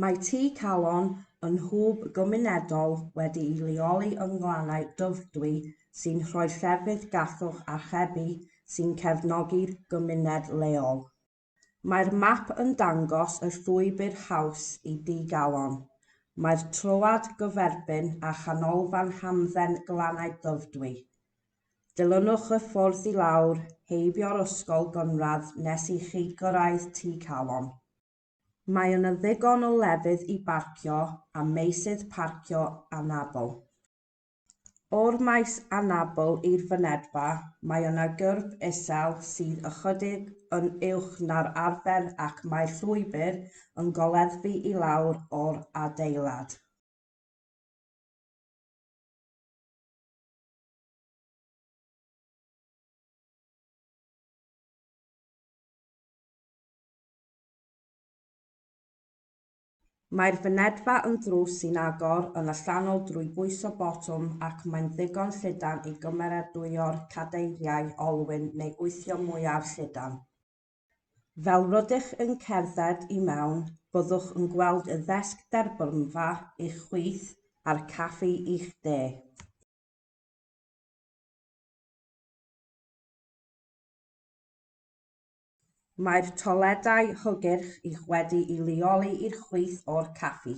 Mae Tŷ Calon yn hwb gymunedol wedi'i leoli yng Nglannau Dyfrdwy sy'n rhoi llefydd gallwch archebu sy'n cefnogi'r gymuned leol. Mae'r map yn dangos y llwybr haws i Dŷ Galon. Mae'r troad gyferbyn â Chanolfan Hamdden Glannau Dyfrdwy. Dilynwch y ffordd i lawr heibio'r ysgol gynradd nes i chi gyrraedd Tŷ Calon. Mae yna ddigon o lefydd i barcio a meysydd parcio anabl. O'r maes anabl i'r fynedfa mae yna gyrb isel sydd ychydig yn uwch na'r arfer ac mae'r llwybr yn goleddfu i lawr o'r adeilad. Mae'r fynedfa yn drws sy'n agor yn allanol drwy bwyso botwm ac mae'n ddigon llydan i gymeradwyo'r cadeiriau olwyn neu wythio mwyaf llydan. Fel rydych yn cerdded i mewn, byddwch yn gweld y ddesg derbynfa i'ch chwith a'r caffi i'ch de. Mae'r toiledau hygyrch i'ch wedi'i leoli i'r chwith o'r caffi.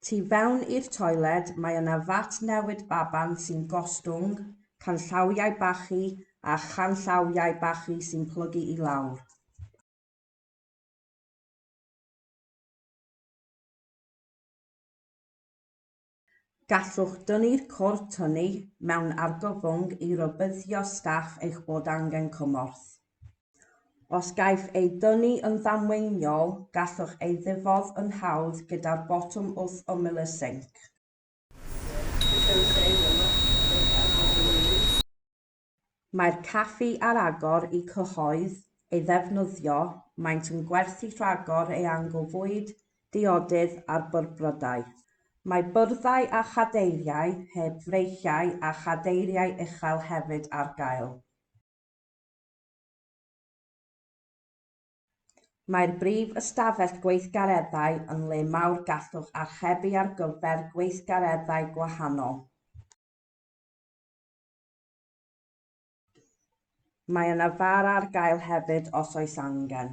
Tu fewn i'r toiled mae yna fat newid baban sy'n gostwng, canllawiau bachu a chanllawiau bachu sy'n plygu i lawr. Gallwch dynnu'r cwrt hynny mewn argyfwng i rybuddio staff eich bod angen cymorth. Os gaiff ei dynnu yn ddamweiniol, gallwch ei ddifodd yn hawdd gyda'r botwm wrth ymyl y sinc. Mae'r caffi ar agor i cyhoedd ei ddefnyddio, maent yn gwerthu rhagor eang o fwyd, diodydd a'r byrbrydau. Mae byrddau a chadeiriau heb freichiau a chadeiriau uchel hefyd ar gael. Mae'r brif ystafell gweithgareddau yn le mawr gallwch archebu ar gyfer gweithgareddau gwahanol. Mae yna fara ar gael hefyd os oes angen.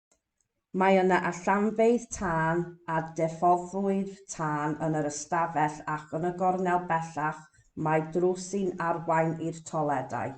Mae yna allanfeydd tân a diffoddwyr tân yn yr ystafell ac yn y gornel bellach mae drws sy'n arwain i'r toiledau.